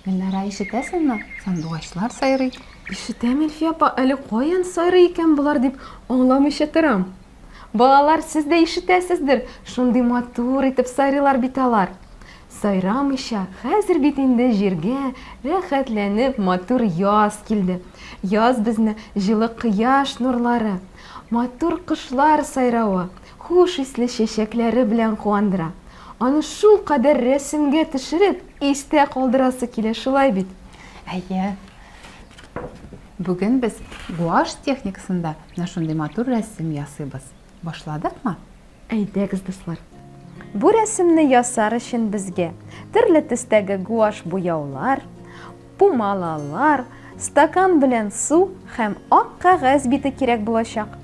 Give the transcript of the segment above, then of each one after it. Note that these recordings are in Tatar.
Гөлнара, ишетәсеңме? Сандугачлар сайрый. Ишетәм, Илфия апа, әле каян сайрый икән болар дип аңламыйча торам. Балалар, сез дә ишетәсездер, шундый матур итеп сайрыйлар бит алар. Сайрамыйча, хәзер бит инде җиргә рәхәтләнеп матур яз килде. Яз безне җылы кояш нурлары, матур кошлар сайравы, хуш исле чәчәкләре белән куандыра. Аны шулкадәр рәсемгә төшереп, истә калдырасы килә, шулай бит? Әйе. Бүген без гуашь техникасында менә шундый матур рәсем ясыйбыз. Башладыкмы? Әйдәгез, дуслар! Бу рәсемне ясар өчен безгә төрле төстәге гуашь буяулар, пумалалар, стакан белән су һәм ак кәгазь бите кирәк булачак.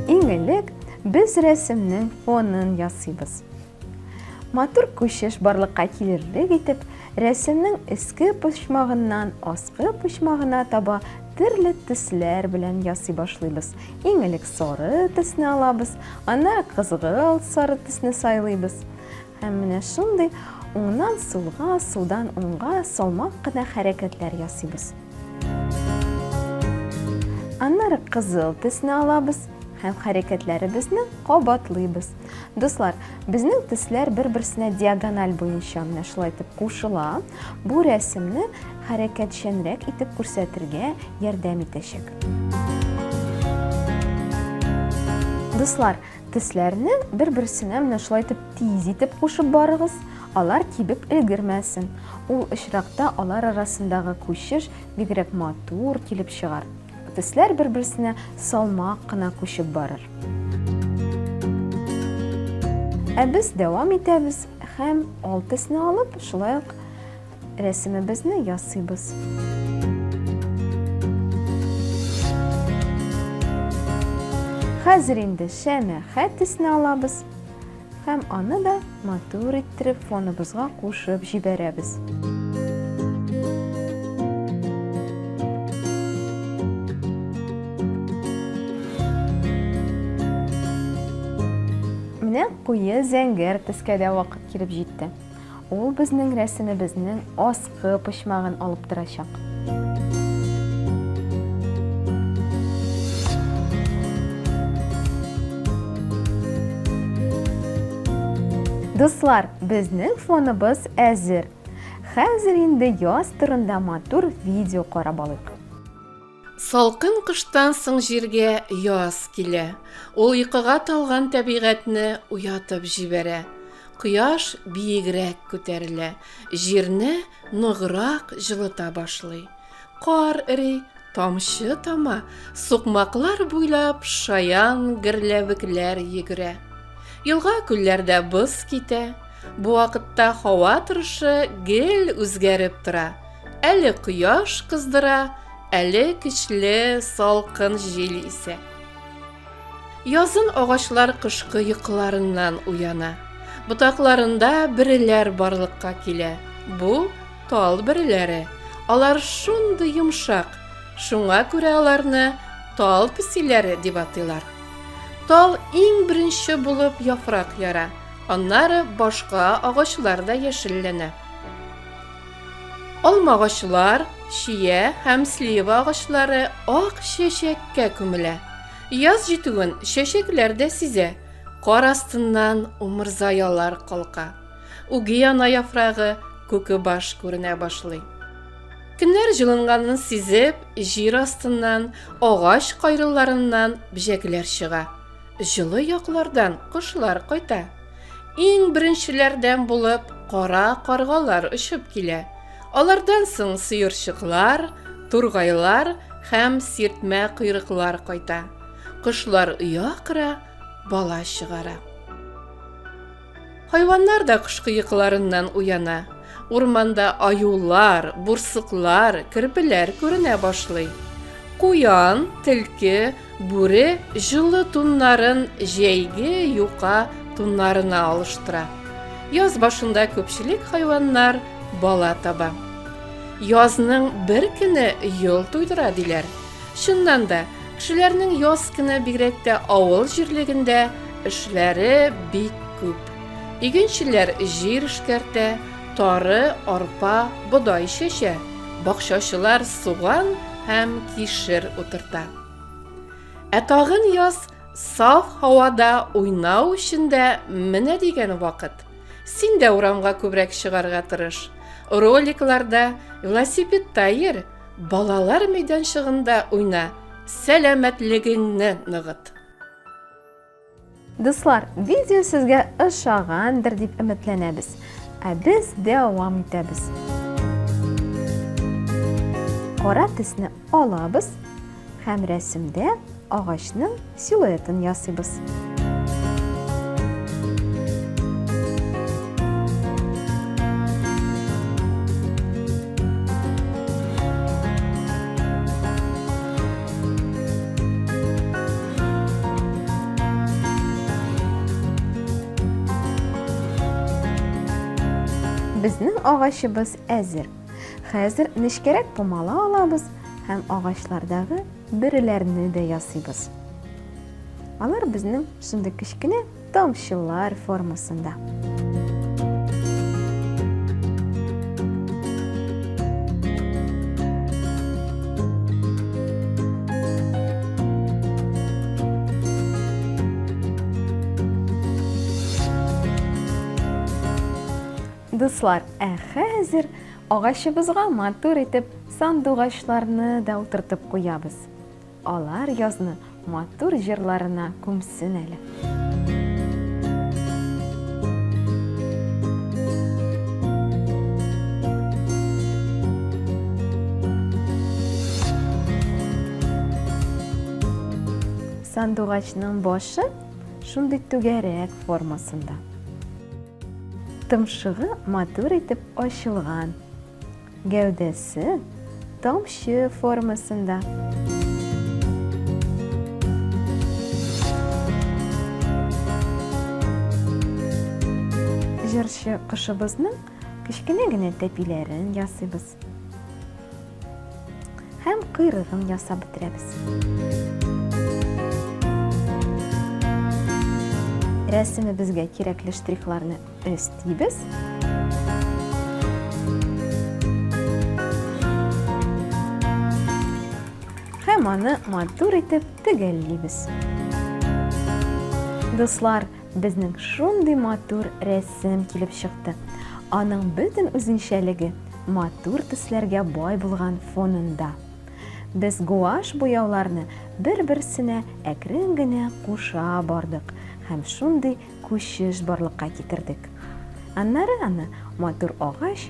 Иң элек без рәсемнең фонын ясыйбыз. Матур күчеш барлыкка килерлек итеп, рәсемнең эске почмагыннан аскы почмагына таба Төрле төсләр белән ясый башлыйбыз. Иң элек сары төсне алабыз, аны кызгылт сары төсне сайлыйбыз. Һәм менә шундый уңнан сулга, судан уңга салмак кына хәрәкәтләр ясыйбыз. Аннары кызыл төсне алабыз һәм хәрәкәтләребезне кабатлыйбыз. Дуслар, безнең төсләр бер-берсенә диагональ буенча менә шулай итеп кушыла. Бу рәсемне хәрәкәтчәнрәк итеп күрсәтергә ярдәм итәчәк. Дуслар, тисләрне бер-берсенә менә шулай итеп тиз итеп кушып барыгыз, алар кибеп өлгермәсен. Ул очракта алар арасындагы күчеш бигрәк матур килеп чыгар. Төсләр бер-берсенә салмак кына күчеп барыр. Ә без дәвам итәбез һәм ал төсне алып, шулай ук рәсемебезне ясыйбыз. Хәзер инде шәмә хәт төсне алабыз. Һәм аны да матур иттереп фоныбызга кушып җибәрәбез. Менә куе зәңгәр төскә дә вакыт килеп җитте. Ул безнең рәсемебезнең аскы почмагын алып торачак. Дуслар, безнең фоныбыз әзер. Хәзер инде яз турында матур видео карап алыйк. Салкын кыштан соң җиргә яз килә. Ул йокыга талган тәбигатьне уятып җибәрә. Кояш биегрәк күтәрелә, җирне ныграк җылыта башлый. Кар эри, тамчы тама, сукмаклар буйлап шаян герләвекләр йөгерә. Елга-күлләрдә боз китә. Бу вакытта һава торышы гел үзгәреп тора. Әле кояш кыздыра, әле көчле салкын җил исә. Язын агачлар кышкы йокыларыннан уяна. Ботакларында бөреләр барлыкка килә. Бу тал бөреләре. Алар шундый йомшак, шуңа күрә аларны тал песиләре дип атыйлар. Тал иң беренче булып яфрак яра. Аннары башка агачлар да яшелләнә. Алма агачлар, чия һәм слива агачлары ак чәчәккә күмелә. Яз җитүен чәчәкләр дә сизә. Кар астыннан умырзаялар калка. Угиана яфрагы, күке баш күренә башлый. Көннәр җылынганын сизеп, җир астыннан, агач кайрыларыннан бҗәкләр чыга. Җылы яклардан кошлар кайта. Иң беренчеләрдән булып кара каргалар очып килә. Алардан соң сыерчыклар, тургайлар һәм сиртмә койрыклар кайта. Кошлар оя кыра, бала чыгара. Хайваннар да кышкы йокыларыннан уяна. Урманда аюлар, бурсыклар, керпеләр күренә башлый. Куян, тилке, бүре җылы туннарын җәйге юка туннарына алыштыра. Яз башында күпчелек хайваннар бала таба. Язның бер көне йол туйдыра диләр. Чыннан да, Кешеләрнең яз кенә бигрәк тә авыл җирлегендә эшләре бик күп. Игенчеләр җир эшкәртә, тары, арпа, бодай чәчә, бакчачылар суган һәм кишер утырта. Ә тагын яз саф һавада уйнау өчен дә менә дигән вакыт. Син дә урамга күбрәк чыгарга тырыш. Роликларда, велосипедта йөр, Балалар мәйданчыгында уйна, сәламәтлегеңне ныгыт! Дуслар, видео сезгә ошагандыр дип өметләнәбез. Ә без дәвам итәбез. Кара төсне алабыз Һәм рәсемдә агачның силуэтын ясыйбыз. Безнең агачыбыз әзер. Хәзер нечкәрәк помала алабыз һәм агачлардагы бөреләрне дә ясыйбыз. Алар безнең шундый кечкенә тамчылар формасында. Дуслар, ә хәзер агачыбызга матур итеп сандугачларны да утыртып куябыз. Алар язны матур җырларына күмсен әле. Сандугачның башы шундый түгәрәк формасында. Томшыгы матур итеп ачылган. Гәүдәсе тамчы формасында. Җырчы кошыбызның кечкенә генә тәпиләрен ясыйбыз. Һәм кыйрыгын ясап бетерәбез. Рәсемебезгә кирәкле штрихларны өстибез. Һәм аны матур итеп төгәллибез. Дуслар, Безнең шундый матур рәсем килеп чыкты. Аның бөтен үзенчәлеге матур төсләргә бай булган фонында. Без гуаш буяуларны бер-берсенә әкрен генә куша бардык һәм шундый күчеш барлыкка китердек. Аннары аны матур агач